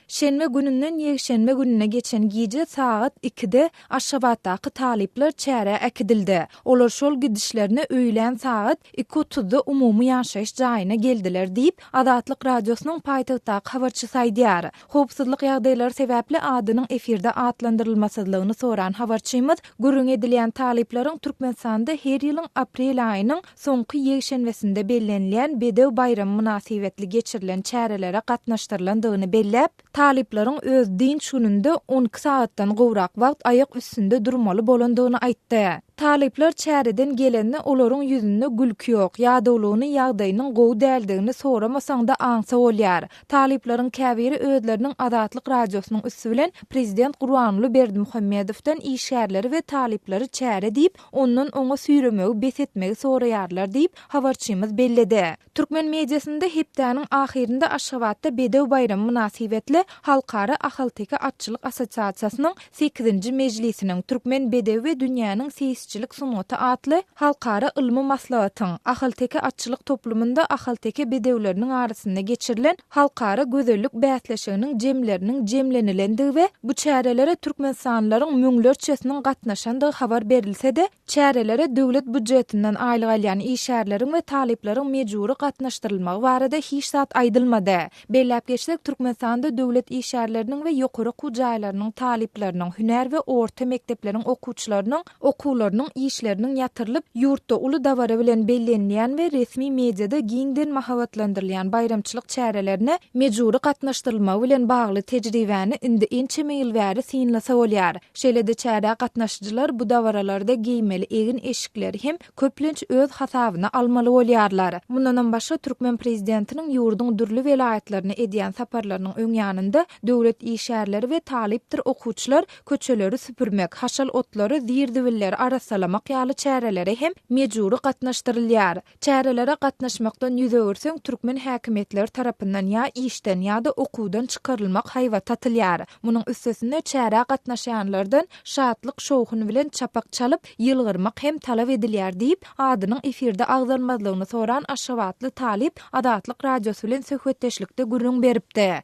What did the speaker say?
Şenbe gününden ýekşenbe gününe geçen gije sagat ikide Aşgabatdaky talyplar çärä äkidildi. Olar şol gidişlerine öýlän sagat iki otuzda umumy ýaşaýyş jaýyna geldiler diýip, Azatlyk Radiosynyň paýtagtdaky habarçysy aýdýar. Howpsuzlyk ýagdaýlary sebäpli adynyň efirde atlandyrylmasyzlygyny soran habarçymyz gürrüňi edilýän talyplaryň Türkmenistanda her ýylyň aprel aýynyň soňky ýekşenbesinde bellenilýän Bedew baýramy mynasybetli geçirilen çärelere gatnaşdyrylandygyny belläp, talyplaryň öz dynç gününde on iki sagatdan gowrak wagt aýak üstünde durmaly bolandygyny aýtdy. Talyplar çäreden gelende olaryň ýüzünde gülki ýok, ýadawlygyny, ýagdaýynyň gowy däldigini soramasaň-da aňsa bolýar. Talyplaryň käbiri özleriniň Azatlyk Radiosynyň üsti bilen prezident Gurbanguly Berdimuhamedowdan işgärleri we talyplary çäre diýip, ondan oňa süýremegi bes etmegi soraýarlar diýip, habarçymyz belledi. Türkmen mediasynda hepdäniň ahyrynda Aşgabatda Bedew baýramy mynasybetli Halkara ahalteke atçylyk assosiasiýasynyň sekizinji mejlisiniň, Türkmen bedewi we dünýäniň seýisçilik sungaty atly halkara ylmy maslahatyň, ahalteke atçylyk toplumynda ahalteke bedewleriniň arasynda geçirilen halkara gözellik bäsleşiginiň jemleriniň jemlenilendigi we bu çärelere türkmenistanlylaryň müňlerçesiniň gatnaşandygy habar berilse-de, çärelere döwlet býujetyndan aýlyk alýan işgärleriň we talyplaryň mejbury gatnaşdyrylmagy barada hiç zat aýdylmady. Belläp geçsek, Türkmenistanda döwlet işgärleriniň we ýokary okuw jaýlarynyň talyplarynyň, hünär we orta mekdepleriň okuwçylarynyň, okuwlarynyň işleriniň ýatyrylyp, ýurtda uly dabara bilen bellenilýän we resmi mediada giňden mahabatlandyrylýan baýramçylyk çärelerine mejbury gatnaşdyrylmagy bilen bagly tejribäni indi ençeme ýyl bäri synlasa bolýar. Şeýle-de çärä gatnaşyjylar bu dabaralarda geýmeli egin-eşikleri hem köplenç öz hasabyna almaly bolýarlar. Mundanam başga türkmen prezidentiniň ýurduň dürli welaýatlaryna edýän saparlarynyň öňýanynda döwlet işgärleri we talypdyr okuwçylar köçeleri süpürmek, haşal otlary, zir-zibilleri arassalamak ýaly çärelere hem mejbury gatnaşdyrylýar. Çärelere gatnaşmakdan ýüz öwürseň, türkmen häkimiýetleri tarapyndan ýa işden, ýa-da okuwdan çykarylmak haýbaty atylýar. Munuň üstesine, çärä gatnaşýanlardan şatlyk-şowhun bilen çapak çalyp, ýylgyrmak hem talap edilýär diýip, adynyň efirde agzalmazlygyny soran aşgabatly talyp Azatlyk Radiosy bilen söhbetdeşlikde gürrüň beripdi.